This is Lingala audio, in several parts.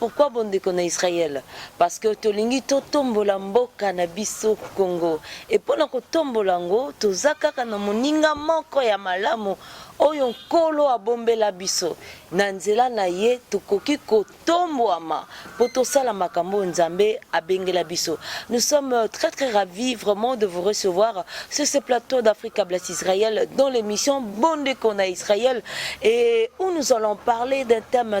Pourquoi bondeko na Israël? Parce que tolingi totombola mboka na biso Congo. Et pona kotombola yango toza kaka na moninga moko ya malamu oyo nkolo abombela biso na nzela na ye tokoki kotombwama mpo tosala makambo oyo nzambe abengela biso nous sommes euh, très très ravis vraiment de vous recevoir sur ce plateau d'africa blas israël dans l'émission bondeko na israël et où nous allons parler d'un thème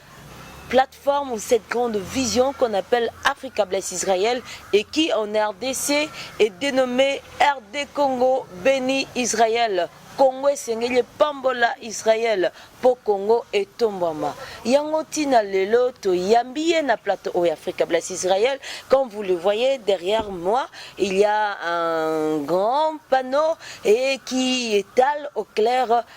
plateforme ou cette grande vision qu'on appelle Africa Bless Israël et qui en RDC est dénommée RD Congo Béni Israël. Congo esengeli pambola Israël po Congo etombama. Yango tina lelo to yambiye na plateau au Africa Bless Israël. Comme vous le voyez derrière moi, il y a un grand panneau et qui étale au clair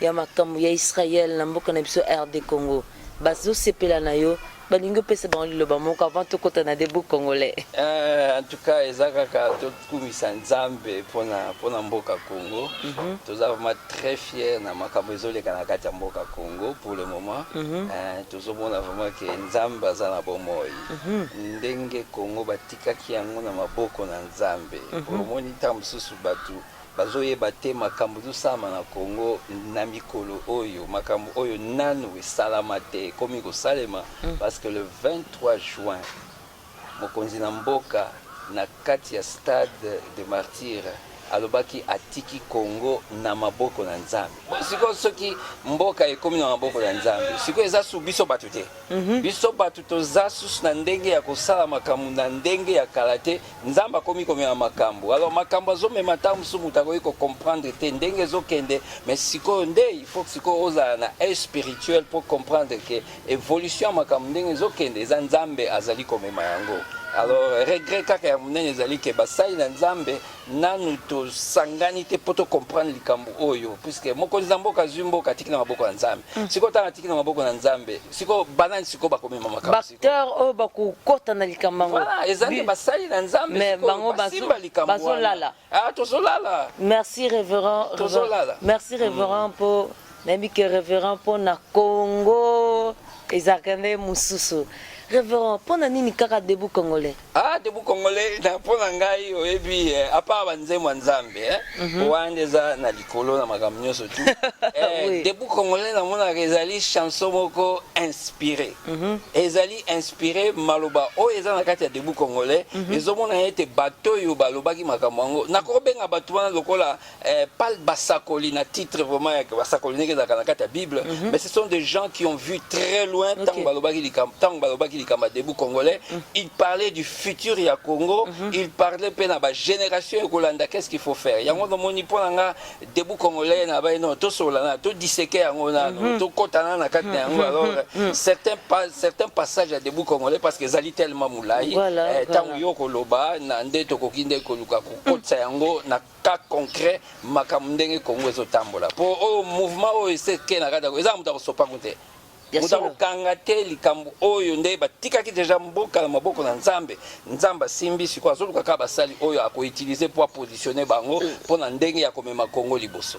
ya makambu ya Israël na mboka na biso RD Congo bazo sepela na yo balingi opesa bango liloba moko avant tokota na debout congolais eh, en tout cas eza kaka tokumisa nzambe mpona mpona mboka congo mm -hmm. toza vraiment très fier na makambo ezoleka na kati ya mboka congo pour le moment mm -hmm. eh, tozomona vraiment ke nzambe aza na bomoi mm -hmm. ndenge congo batikaki yango na maboko na nzambe mm -hmm. omoni ntango mosusu bato Bazo yeba te makambu ezo salama na Congo na mikolo oyo makambu oyo nanu esalama te ekomi ko salema parce que le 23 juin mokonzi na mboka na kati ya stade de martyre alobaki atiki Congo na maboko na nzambe sikoyo soki mboka ekomi na maboko na nzambe sikoyo eza sous biso batu te biso batu toza susu na ndenge ya kosala makambu na ndenge ya kala te Nzambe akomi komema makambo alors makambo azomema ntango mosusu moto akoki kocomprendre te ndenge ezokende mais sikoyo nde il faut sikoyo ozala na aide spirituel pour comprendre ke évolution ya makambo ndenge ezokende eza nzambe azali komema yango alors regret kaka ya monene ezali ke basali na nzambe nanu tosangani te mpo tocomprendre likambo oyo puiske mokonzi na mboka azwi mboka atiki na maboko ya nzambe mm. sikoyo ntango atiki na maboko na nzambe sikoyo banani sikoyo bakomema makambo acteur oyo bakokota na likambo yango voilà eza nde basali na nzambe mais bango basimba likambo bazolala ah tozolala merci révérend tozolala merci révérend mm. po nayebi ke révérend mpo na congo ezalaka nde mosusu révérend mpo na nini kaka debout congolais Ah, debout congolais, na mpo na ngai oyebi eh, à part banzembo ya nzambe eh, mhm. wana nde eza na likolo na makambo nyonso tu eh, debout congolais namonaka ezali chanson moko inspiré mhm. ezali inspiré maloba oyo eza na kati ya debout congolais mhm. ezomonana ete bato oyo balobaki makambo yango nakobenga bato wana lokola Eh, pas basakoli na titre vraiment ya basakoli ndenge ezalaka na kati ya bible mm -hmm. mais ce sont des gens qui ont vu très loin ntango okay. balobaki likambo ntango balobaki likambo ya debout congolais mm -hmm. il parlait du futur ya congo mm -hmm. il parlait mpe na bagénération ekolanda qu'est ce qu'il faut faire yango nomoni mpo na nga debout congolais na bai non tosolola na todiseke yango nano mm -hmm. tokotana na kati na yango mhm. alors mm -hmm. certains, pa, certains passages ya debout congolais parce que ezali tellement molai ntango voilà, eh, voilà. yo koloba na nde tokoki nde koluka kokotisa yango na cas concret makambo ndenge Congo ezo tambola po oyo mouvement oyo ese ke na kati eza moto akosopa ngo te moto akokanga te likambo oyo nde batikaki deja mboka na maboko na nzambe nzambe asimbi sikoyo azoluka kaka basali oyo akoutilize mpo apositionne bango mpo na ndenge ya komema kongo liboso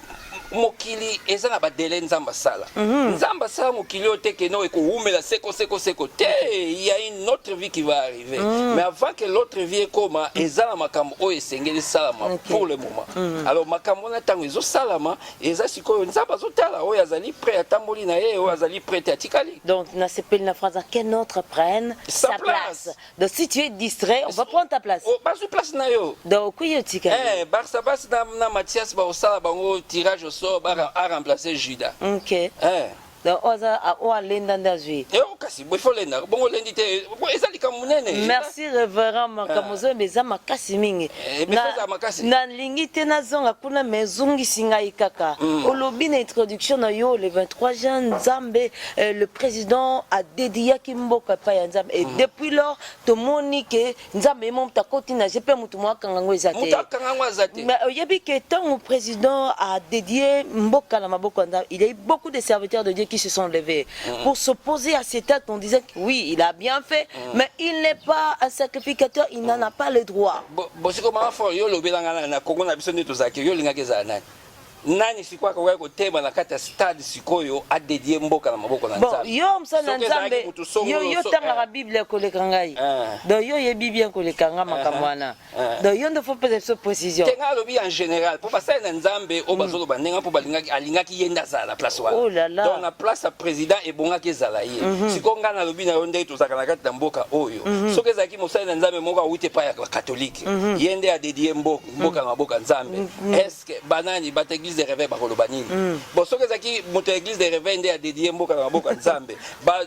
mokili eza na badele nzambe asala mhm. nzambe asala mokili oyo te keno ekowumela seko seko seko te il y a une autre vie qui va arriver mhm. mais avant que l'autre vie ekoma mhm. eza na makambo oyo esengeli esalama pour le moment alors makambo wana ntango ezosalama eza sikoyo nzambe azotala oyo azali prêt atamboli na ye oyo azali prêt te atikali donc nasepeli na france qu'un autre prenne sa place Donc si tu es distrait, on va prendre ta place. Oh, bazwi place na yo. Donc oui, yo tika. Eh, Barça Barça na, na Mathias ba osala bango tirage au sort ba a remplacer Judas. OK. Eh. Donc oza a o alenda ndazwi. Eh o kasi bo faut lenda. Bongo lendi te. Bo eza likambo munene. Merci révérend Makamozo ah. meza makasi mingi. Eh, mais faut za makasi. Na lingi te na zonga kuna mais zongi singa ikaka. Mm. Olobi na introduction na yo le 23 juin Nzambe Eh, le président a dédié ki mboka epai ya nzambe et mm. depuis lors tomoni ke nzambe ye moto akoti na je mpe motu mo akanga yango eza te mais oyebi ke ntango président a dédié mboka na maboko ya nzambe il y a eu beaucoup de serviteurs de dieu qui se sont levés mm. pour s'opposer à cet acte en disant que oui il a bien fait mm. mais il n'est pas un sacrificateur il n'en a pas le droit bosikomaka fort yo olobelanga na kongo na biso nde tozalaki yo olingaki ezala nani nani sikoyo akokaki kotema na kati ya stade sikoyo adedie mboka na maboko na bon, nzambe yo mosali na Soki ezalaki nzambe moto songo yo yo loso- otangaka eh. biblia koleka ngai Eh. donc yo oyebi bien koleka ngai makambo wana Eh. donc yo nde fo pesa biso précision te ngai alobi en général mpo basali na nzambe oyo bazoloba ndenge mpo balingaki alingaki ye nde azala na place wana Oh là là. donc na place ya président ebongaki ezala ye sikoyo ngai nalobi na yo ndenge tozalaka na kati na mboka oyo soki ezalaki mosali na nzambe moko awuti epai ya bakatolike ye nde adedie mboka mboka na maboka nzambe mm, mm. eske banani bato ya église de réveil bakoloba nini mm. bon soki ezalaki moto ya église de réveil nde adedie mboka na maboka nzambe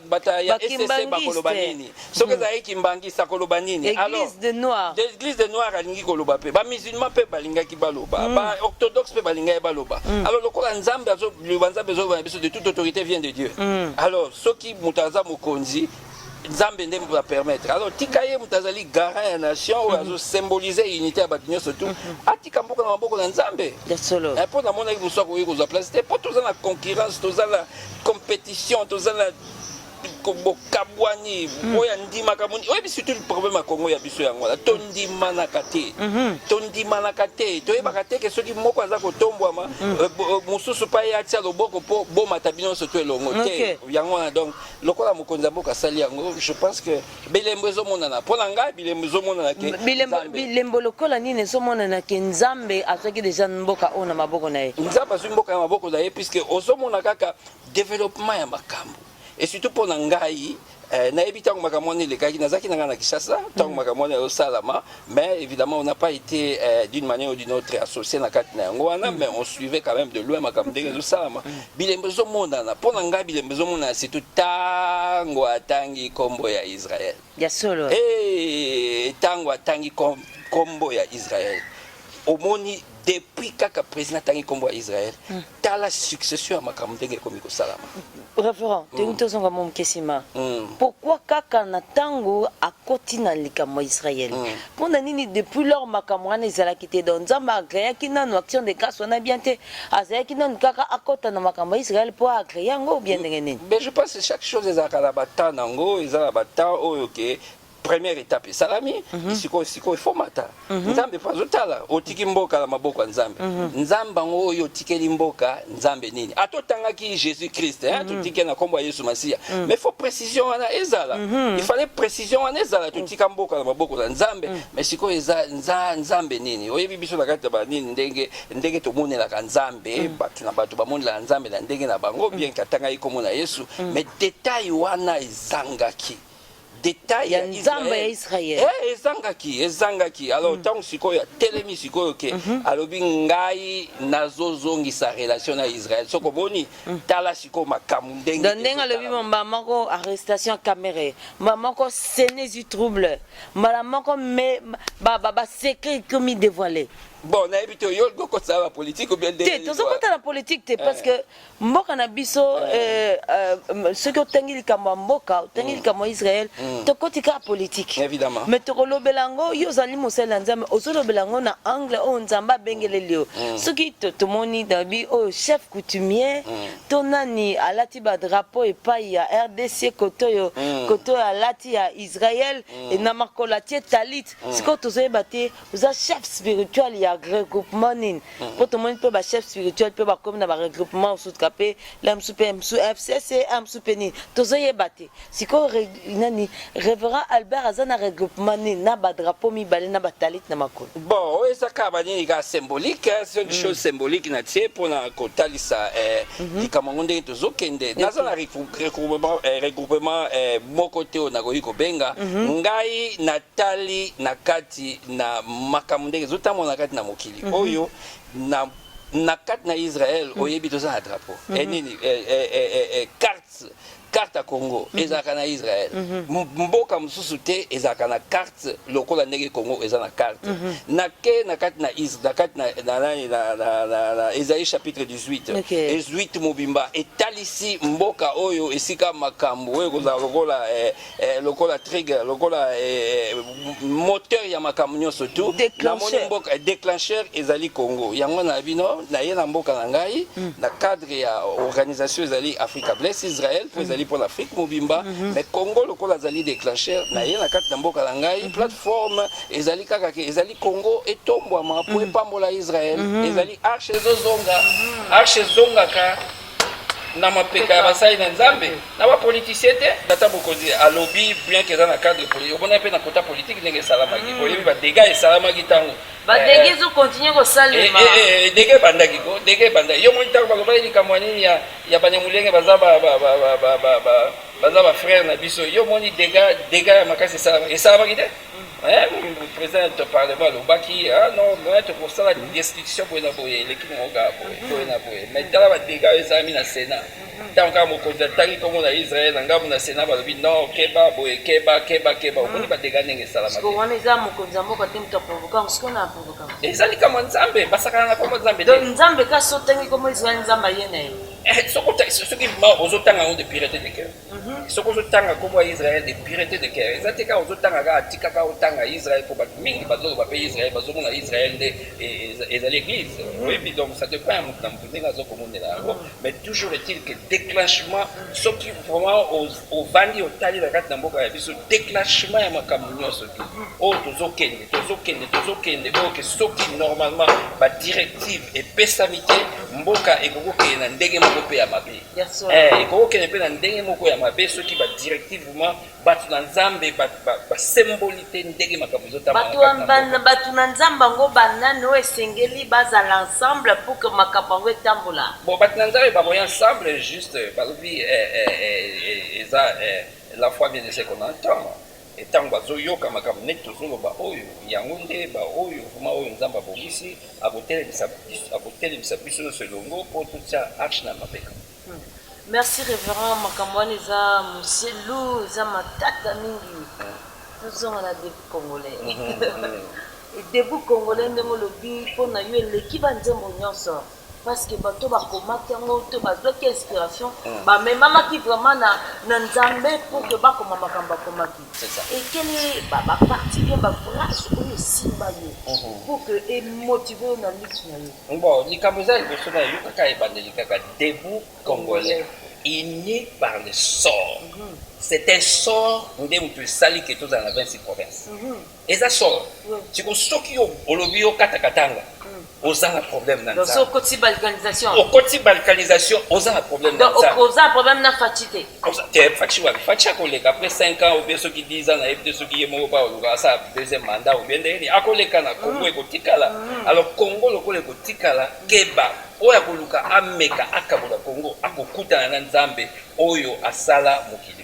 bato ya ecc bakoloba nini soki ezalaki kimbangiste akoloba nini église de noir alingi koloba mpe bamusulman mpe balingaki baloba baorthodoxe mpe balingaki baloba alors lokola nzambe azoloba nzambe ezoloba na biso de toute autorité vient de dieu alors soki moto aza mokonzi nzambe nde moto apermettre alors tika ye moto azali garant ya nation oyo mhm. azosymbolize unité ya bato nyonso tu mhm. atika mboka na maboko na nzambe mpo eh, namonaki mosu akoki kozwa place te mpo toza na concurrence toza na compétition toza na bokabwani mhm. oyo andimaka moni oyebi surtout problème ya kongo ya biso yango wana tondimanaka te tondimanaka te toyebaka te ke soki moko aza kotombwama euh, euh, mosusu pa ye atia loboko mpo bomata bino nyonso to elongo te yango wana donc lokola mokonzi ya mboka asali yango je pense que bilembo ezomonana mpo na ngai bilembo ezomonana ke bilembo, bilembo lokola nini ezomonana ke nzambe azwaki deja mboka oyo na maboko na ye nzambe azwi mboka ya maboko na ye puisque ozomona kaka developpement ya makambo et surtout mpo na ngai Eh, nayebi ntango makambo wana elekaki nazalaki na ngai na kinshasa ntango mm. makambo wana ezosalama mais évidemment on n'a pas été euh, d'une manière ou d'une autre associé na kati na yango wana mm. mais on suivait quand même de loin makambo ndenge ezosalama mm. bilembo ezomonana mpo na ngai bilembo ezomonana surtout ntango atangi nkombo ya israel ya solo ntango atangi nkombo ya israel omoni depuis kaka président atangi nkombo ya israel hmm. tala succession ya makambo ndenge ekomi kosalama référent hmm. toyingi tozonga mo moke nsima hmm. pourkui kaka na ntango akoti na likambo ya israel mpo na nini depuis lors makambo wana ezalaki te donc nzambe agreaki nanu action de grâce wana bien te azalaki nanu kaka akota na makambo ya israel mpo agree yango bien ndenge nini mais je pense chaque chose ezalaka na batemps na yango eza na batemps oyo ke première étape esalami mhm. sikoyo sikoyo efomata mhm. nzambe mpo azotala otiki mboka na maboko ya nzambe mhm. nzambe yango oyo otikeli mboka nzambe nini ata otangaki jésus christ eh, totike na nkombo ya yesu masiya mais faut précision wana ezala il fallait précision wana ezala totika mboka na maboko na nzambe mais sikoyo eza nza, nzambe nini oyebi biso na kati ya banini ndenge ndenge tomonelaka nzambe bato na bato bamonelaka nzambe na ndenge na bango bien katangaki nkombo na yesu mais detail wana ezangaki d'etat ya nzambe ya israel eh, ezangaki ezangaki alors ntango mm. sikoyo atelemi sikoyo ke mm -hmm. alobi ngai nazozongisa relation na israel soko boni mm. tala sikoyo makambo ndenge ndenge alobi mbala moko arrestation ya camere mbala moko sene du trouble mbala moko basecret ekomi dévoile bon nayebi te oyo okokotisa na bapolitike obiende te tozokota na politike te parce eh. que mboka na biso eh, eh, soki otangi likambo ya mboka otangi mm. likambo ya israel mm. tokoti kaka politike me tokolobela yango yo ozali mosali ya nzambe ozolobela yango na angle oyo nzambe abengeleli yo mm. soki tomoni dabi oyo chef coutumier to nani alati badrapo epai ya rdc kote oyo kote oyo alati ya israel na makolo atie talit sikoyo tozoyeba te oza chef spirituel ya regroupement nini mpo mhm. tomoni mpe bachef spirituel mpe bakomi na baregroupement mosutuka mpe la mosu mpe mosu fcc a mosu mpe nini tozoyeba te sikoyo nani révérend albert aza na regroupement nini na badrapeau mibale na batalite na makolo bon oyo eza kaka banini kaka symbolique ce mm. chose symbolique na tie mpona kotalisa eh, mhm. likambo yango ndenge tozokende naza na eh, regroupement eh, moko te oyo nakoki kobenga mhm. ngai natali na kati kati na makambo ndenge ezotambola na kati na mokili mhm. oyo na na kati na israel mhm. oyebi toza na drapeau mhm. eh, nini eh, eh, carte carte ya congo ezalaka na israel mboka mosusu te ezalaka na carte lokola ndenge congo eza na carte nake na kati na kati na ezali chapitre 18 ezwit mobimba etalisi mboka oyo esika makambo oyo ekozala lokola eh, lokola trigger lokola eh, moteur ya makambo nyonso tu namoni mboka eh, déclencheur ezali congo yango na bino naye na mboka na ngai mm. na cadre ya organisation ezali africa bless israel mpo mm. ezali mpo na afrique mobimba mm -hmm. mais congo lokola azali déclencheur mm. naye na kati na mboka na ngai mm -hmm. plateforme ezali kaka ke ezali congo etombwama mpo mm. epambola israel mm -hmm. ezali arche ezozonga mm -hmm. arche ezongaka na mapeka ya basali na nzambe na bapolitisien te tata bokonzi alobi bien ke eza na cadre politique omona mpe na kota politique ndenge esalamaki mm. oyebi badega esalamaki ntango badege eh, ezokontinue kosalema eh, eh, dege ebandaki ko dege ebandaki yo moni ntango balobaki likambo ya nini ya banyamulenge baza baza bafrere na biso yo moni dega dega ya makasi esalamaki esalamaki te président ya parlement alobaki ah, non me tokosala destruction boye na boye eleki mongo kaka boye boye na boye mai tala badega oyo ezalami na sénat ntango kaka mokonzi atali nkombo na israel na ngambo na sénat balobi non keba boye keba keba keba omoni badega ndenge esalamaka eza likambo ya nzambe basakana na nkombo nzambe te nzambe kasi otangi nkombo israel nzambe aye na ye eh, soki ozotanga yango de pirate de cœur soki ozotanga nkombo ya israel de purete de cœur eza te kaka ozotanga kaka tika kaka otanga israel mpo bato mingi bazoloba mpe israel bazomona israel nde e, e, ezali église mm. oyebi donc ça te prend moto na moto ndenge azokomonela yango mm. mais toujours est-il que déclenchement soki vraiment ovandi otali na kati na mboka ya biso déclenchement ya makambo nyonso te mm. oyo tozokende tozokende tozokende oyo ke soki normalement badirective epesami te mboka ekoki kokende na ndenge moko mpe ya mabe Eh, ekoki kokende mpe na ndenge moko ya mabe soki badirectivement bato na nzambe basemboli te ndenge makambo ezotambabato na nzambe yango banani oyo esengeli bazala ensemble pour que makambo yango etambola bon bato na nzambe bakoya ensemble juste balobi eh, eh, eza la foi vient de ce qu'on entend Et tango bazo yoka makambo neti tozo loba oyo, yango nde ba oyo vraiment oyo Nzambe abongisi, ako telemisa biso, ako telemisa biso nionso elongo po totia arche na mapeka. Merci reverend makambo wana eza moselu eza matata mingi tozonga na debout congolais debout congolais ndenge olobi mpo na yo eleki banzembo nyonso parce que bato oyo bakomaki yango to bazwaki inspiration mm. bamemamaki vraiment na, na nzambe pour que bakoma makambo akomaki ekele baparti bien baphrase oyo esimba yo mhm. pour que emotive yo na lutte na yo bon likambo eza liboso na yo kaka ebandeli kaka debout congolais uni par le sort mm -hmm. c'est un sort nde moto esali ke tozala na 26 province mm -hmm. eza somo siko soki yo olobi yo kata katanga oza na problème na nzambe okoti balkanisation okoti balkanisation oza na problème na nzambe oza na problème na fachi te te fachi wapi fachi akoleka après 5 ans obie soki 10 ans na ye te soki ye moko pa oluka asala deuxième mandat obie nde yeni akoleka na congo mm. ekotikala mm. alors congo lokola ekotikala keba oyo akoluka ameka akabola congo akokutana na nzambe oyo asala mokili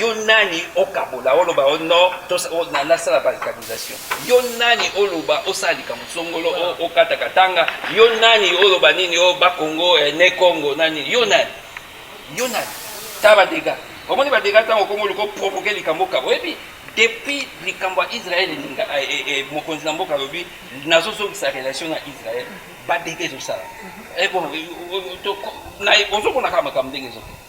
Yo nani okabola oloba o no to nasala barricadisation? Yo nani oloba osala likambo songolo okata katanga? Yo nani oloba nini o ba Congo eh, ne Congo na nini? Yo nani? Yo nani? Ta ba dega omoni ba dega ntango okomi oluka oprovoke likambo kabo oyebi depuis likambo ya Israël elinga eh, eh, eh, mokonzi na mboka alobi nazozongisa relation na Israël ba dega ezosala mhm. eh, bon, ozokonaka makambo ndenge ezokende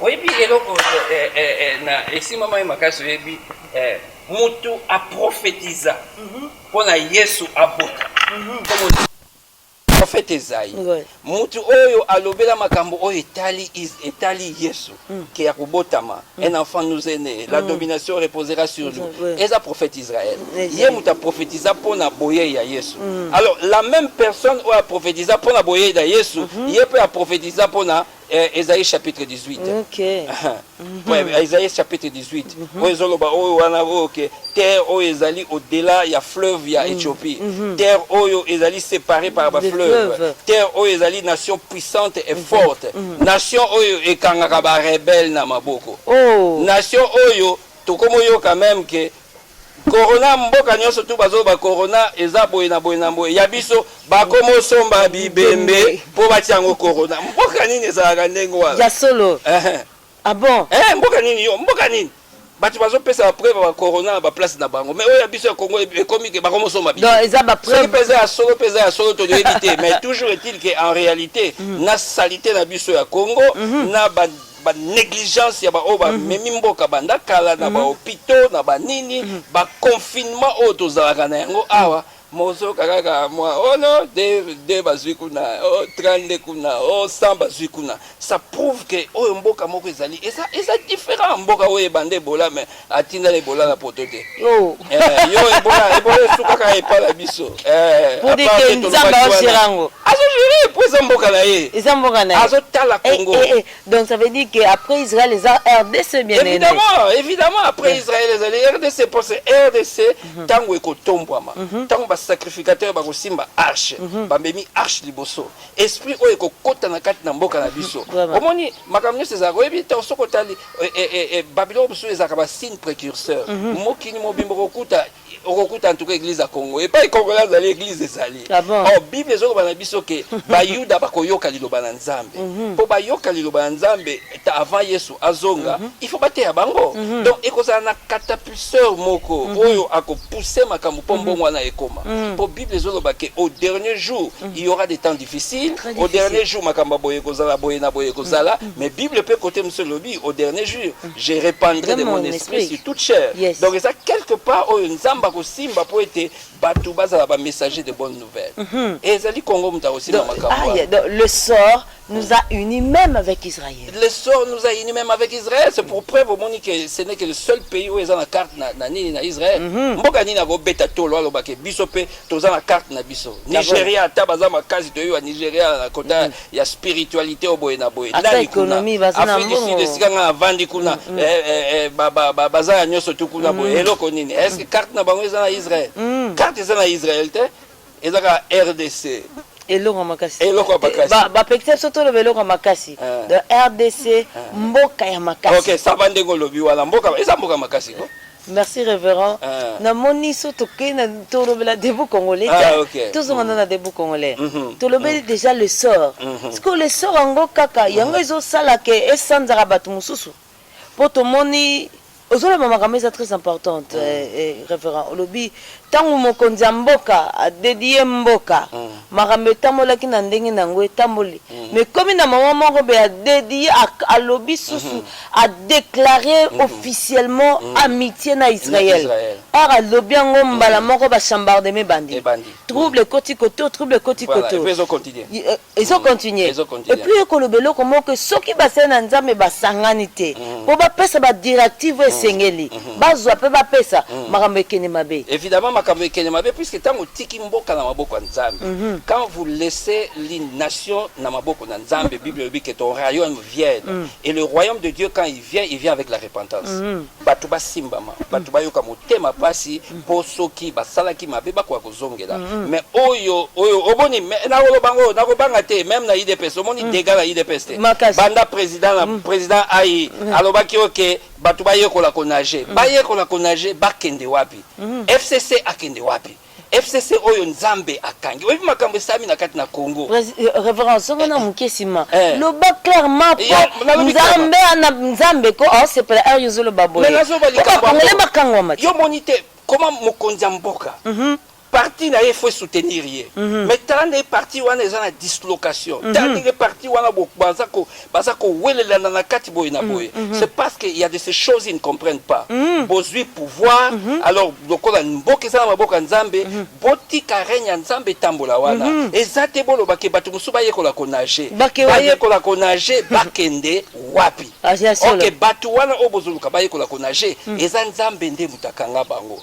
oyebi eloko eh, eh, eh, na esimba mai makasi oyebi mutu aprofetiza mhm. mpo na yesu abota mhm. profete ezai mutu oyo alobela makambo oyo etali etali yesu mm. ke ya kobotama mm. un enfant nous est né la mm. domination reposera sur lui eza prophète israël ye mutu aprofetiza mpo na boyei ya yesu alors la même personne oyo aprofetiza mpo na boyei ya yesu mm-hmm. ye mpe aprofetiza mpo na Eh, Esaïe chapitre 18. Okay. ouais, Esaïe chapitre 18. Mm -hmm. Oyo ezoloba oyo wana oyo ke terre oyo ezali au-delà ya fleuve ya mm. Ethiopie. Mm -hmm. Terre oyo ezali séparée par ba fleuve. fleuve. Terre oyo ezali nation puissante et mm -hmm. forte. Mm -hmm. Nation oyo ekangaka ba rebelles na maboko. Oh. Nation oyo tokomoyoka même que Corona mboka nionso tout bazo loba corona eza boye na boye na boye ya biso ba komo somba bibembe po batia yango corona mboka nini ezalaka ndenge wana ya solo eh ah bon eh mboka nini yo mboka nini bato bazopesa bapreuve ya corona na baplace na bango mais oyo ya biso ya congo ekomi ke bango mosomba bisosoki mpenza ya solo mpenza ya solo toyebi te mais toujours est-il ke en réalité mm. na salite na biso ya congo mm-hmm. na ba negligence ya ba oyo bamemi mhm. mboka banda kala na ba mhm. hopitaux na ba nini mhm. ba confinement oyo tozalaka na yango awa mozoyoka kaka mwa ono oh de, de bazwi kuna o oh, 32 kuna o oh, 100 bazwi kuna ça prouve ke oyo mboka moko ezali eza, eza différent mboka oyo ebanda ebola mais atinda na ebola na poto te oh. eh, yo ebola ebola esukaka epa na biso eh, pour dire que nzambe azogere yango azogere po eza mboka na ye eza mboka na ye azotala eh, congo eh, eh, donc ça veut dire que après israël eza rdc bien évidemment évidemment après israël ezali rdc po c'est rdc ntango mhm. ekotombwama ntango mhm. basacrificateur bakosimba arche mhm. bamemi arche liboso esprit oyo ekokota na kati na mboka na biso omoni makambo nyonso ezalaka oyebi ntango soki otali Eh, eh, eh, eh, babiloko mosusu ezalaka basigne précurseur mm -hmm. mokili mobimba okokuta okokuta en tout cas église ya congo epai congolais azali église ezali ah bon? or oh, bible ezoloba na biso ke bayuda bakoyoka liloba na nzambe mpo mhm. mm -hmm. bayoka liloba na nzambe avant yesu azonga mm -hmm. il faut bateya bango mm -hmm. donc ekozala na katap pousseur moko mm -hmm. oyo ako pousser makambo po mm -hmm. mbongo wana ekoma mm -hmm. po bible ezoloba ke au dernier jour mm -hmm. il y aura des temps difficiles difficile. au dernier jour makambo boye kozala boye na boye kozala mm -hmm. mais bible pe côté monsieur lobi au dernier jour mm -hmm. je répandrai de mon esprit, esprit sur toute chair yes. donc eza quelque part oyo nzamba ko simba po ete bato bazala ba messager de bonne nouvelle mm -hmm. et ezali Congo muta ko simba makambo ah, yeah, le sort nous a unis même avec Israël. Le sort nous a unis même avec Israël. C'est pour preuve omoni que ce n'est que le seul pays oyo eza na carte na, na nini na Israël. Mhm. Mboka nini akobeta tolo aloba ke biso mpe toza na carte na biso. Nigeria ata baza makasi toyewa Nigeria na kota mhm. ya spiritualité oyo boye na boye. Ata économie baza na mbongo. Afrique du Sud esika nga avandi kuna mhm. eh, eh, eh, ba, ba, ba, baza ya nyonso tu kuna boye eloko nini? Est-ce que carte na bango eza na Israël? Carte eza na Israël te. eza kaka rdc eloko makasi eloko ya makasi ba ba pekisa biso toloba eloko ya makasi Eh. de rdc Eh. mboka ya makasi ok saba ndenge olobi wana mboka eza mboka makasi ko merci révérend Eh. namoni so tokei na tolobela debout congolais Ah, te. ok. tozonga nde na debout congolais Mhm. tolobeli déjà le sort Mhm. sikoyo le sort yango kaka yango ezosala ke esanzaka bato mosusu po tomoni ozoloba makambo eza très importante mm. eh, eh, révérend olobi ntango mokonzi ya mboka adedie mboka mm. makambo etambolaki na ndenge na yango etamboli mm. mais komi na mama moko be adedie alobi susu mm -hmm. adeklare mm -hmm. officiellement mm -hmm. amitié na israël or alobi yango mbala moko bachambardeme ebandi trouble ekoti koto trouble ekoti koto euh, ezo continuer ezo continuer et puis ekoloba eloko moko soki basali na nzambe basangani te mm. mpo bapesa badirective oyo mm. esengeli mm-hmm. bazwa mpe bapesa mm. makambo ekende mabe évidemment makambo ekende mabe puisque ntango otiki mboka na maboko ya nzambe mm-hmm. quand vous laissez les nations na maboko na nzambe bible elobi que ton royaume vienne et le royaume de dieu quand il vient il vient avec la repentance bato basimbama bato bayoka motema pasi mpo soki basalaki mabe bakoka kozongela me oyo oyo oboni me- nakoloba ngo nakobanga te meme na idps omoni dega na idps te Makasi. banda président na président ayi alobaki oke bato bayekola konage bayekola konage bakende wapi fcc akende wapi FCC oyo Nzambe akangi. Oyebi makambo esalami na kati na Congo. Pres- eh, Reverend, soki na moke nsima Eh. loba clairement po Ya, nalobi nzambe ana nzambe ko aosepela heure yo ozoloba boye Mais nazoba po likambo bakongole yango. bakangwama te Yo moni te koma mokonzi ya mboka. Parti na ye faut soutenir ye. Mais tala ndenge parti wana eza na dislocation. Tala ndenge parti wana bo- baza ko baza kowelelana na kati boye na boye mm, mm -hmm. c'est parce que il y a de ces choses ils ne comprennent pas mm. bozwi pouvoir mm -hmm. alors lokola mboka eza na maboko ya nzambe mm -hmm. botika règne ya nzambe etambola wana mm -hmm. eza te boloba ke bato mosusu bayekola konage bayekola konage bakende wapi ah, ok bato wana oyo bozoluka bayekola konage mm. eza nzambe nde moto akanga bango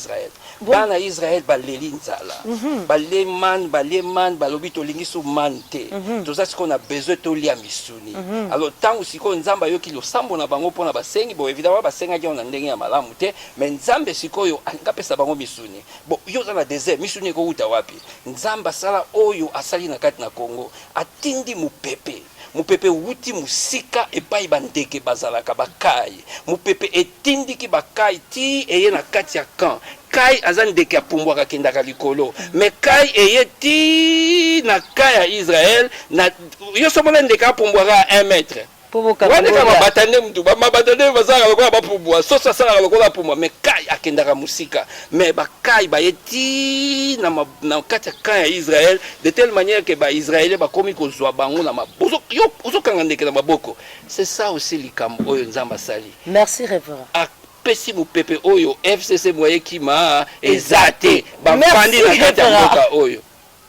Israël bana ya Israël baleli nzala balie manne balie manne balobi tolingi su manne te toza sikoyo na besoin tolia misuni alors ntango sikoyo Nzambe ayoki losambo na bango mpo na basengi bon evidemment basengaki yango na ndenge ya malamu te mais Nzambe sikoyo alingi apesa bango misuni bon yo oza na desert misuni ekowuta wapi Nzambe asala oyo asali na kati na Congo atindi mopepe Mopepe ewuti mosika epai bandeke bazalaka, bakai. Mopepe etindiki bakai tii eye na kati ya camp. Kai aza ndeke apumbwaka akendaka likolo. Mais kai eye tii na camp ya Israël na yo soki omona ndeke apumbwaka ya 1 mètre. Wana kaka mabata nde mutu. Ba mabata nde bazalaka lokola bapumbwa. Soso asalaka lokola apumbwa mais kai akendaka mosika. Mais bakai baye ti na, ma, na kati ya camp ya Israël de telle manière que ba Israéliens bakomi kozwa bango na mabozo yo ozokanga ndeke na maboko c'est ça aussi likambo oyo Nzambe asali Merci reverend. apesi mopepe oyo FCC moyen kima eza te bavandi na kati ya mboka oyo